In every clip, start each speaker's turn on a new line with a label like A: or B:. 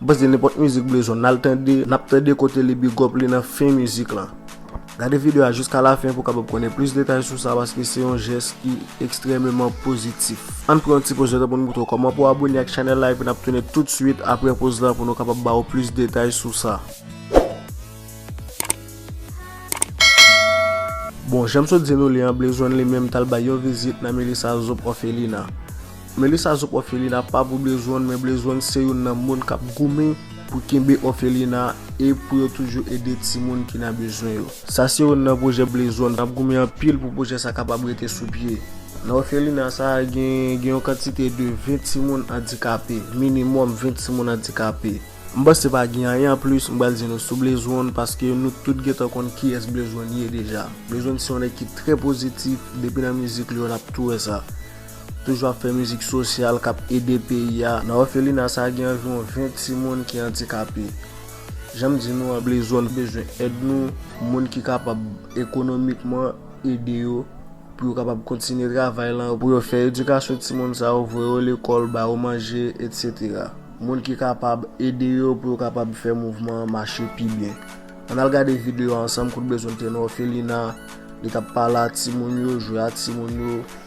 A: M panse nenpòt mizik blezon al tande nap tande kote li bigòp li nan fen mizik lan. Gade video a jiska la fen pou kapab konnen plis detay sou sa paske se yon jès ki ekstrèmeman pozitif. Ann pran yon ti poz letan pou nou moutre w kòman pou w abone ak chanèl la epi nap tounen tout swit aprè poz lan pou nou kapab ba ou plis detay sou sa. Bon, janm sot di nou li an, Blezon li menm tal bay yon vizit nan Melissa Zop Orphelina. Melissa zop òfelina pa pou blezwen men blezwen se youn nan moun kap goumen pou kenbe òfelina e pou yo toujou ede timoun ki nan bezwen yo. Sa se youn nan pwojè blezwen ap goumen anpil pou pwojè sa kapab rete sou pye. Nan òfelina sa gen gen yon kantite de 20 timoun andikape, minimòm 20 timoun andikape. M panse pa gen anyen anplis m pral di nou sou blezwen paske nou tout gentan konn kiyès blezwen ye deja. Blezwen se yon nèg ki trè pozitif depi nan mizik li yo nap tou wè sa. Toujou ap fè mizik sosyal kap ede peyi a. Nan òfelina sa gen anviwon 20 timoun ki andikape. Janm di nou an ble zòn bezwen èd nou, moun ki kapab ekonomikman ede yo pou yo kapab kontinye travay lan, pou yo fè edikasyon timoun sa yo, voye yo lekòl, ba yo manje etc. Moun ki kapab ede yo pou yo kapab fè mouvman an mache pi byen. Ann al gade videyo a ansanm kout bezwen te nan òfelina, li tap pale a timoun yo, jwe a timoun yo.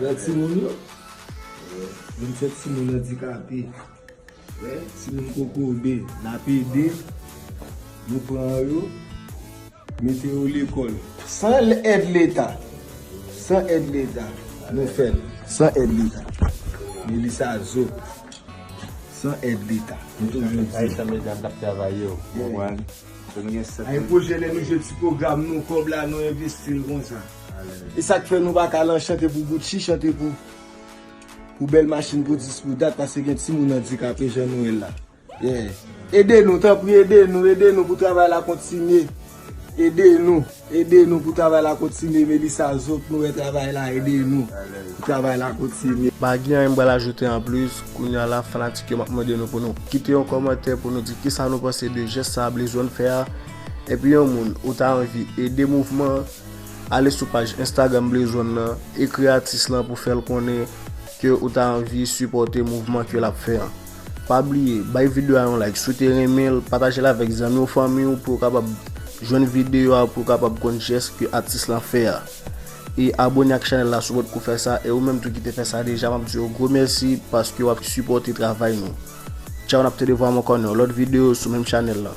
B: Wè timoun yo? Menm se timoun andikape, wè timoun kokobe nap ede nou pran yo mete yo lekòl san èd leta, san èd leta nou fèl, san èd leta Melissa zo san èd leta nou toujou di. Ayisyen medam kap travay yo konprann ke nou gen 7 Aypwojè lè nou jwe ti pwogram nou kòb la nou envestil konsa. E sak fè nou paka lan chante pou Gucci, chante pou pou bèl machin pou dis pou dat pase gen ti moun andikape jan nou e la. Yeah. Ede nou tanpri ede nou, ede nou pou travay la kontinye. Ede nou, ede nou pou travay la kontinye Melissa Zo k nou wè travay la ede nou pou travay la kontinye. Pa gen anyen m pral ajoute
A: anplis, kounya la fanatik yo map mande nou pou nou kite yon kòmantè pou nou di kisa nou panse de jès sa Blaze One fè a, epi yon moun ou ta anvi ede mouvman an. Ale sou paj Instagram Blaze One nan, ekri atis lan pou fèl konnen ke ou ta anvi sipòte mouvman ke lap fè an. Pa bliye, bay video a yon like si w te renmen l, pataje l avèk zanmi w, fanmi w pou yo kapab jwenn video a, pou yo kapab konn jès ke atis lan fè a. E abone ak chanèl la si w pot ko fè sa, e ou menm tou ki te fè sa deja map di w gwo mèsi paske wap sipòte travay nou. Tchaw nap tende vwa m ankò nan yon lòt video sou menm chanèl lan.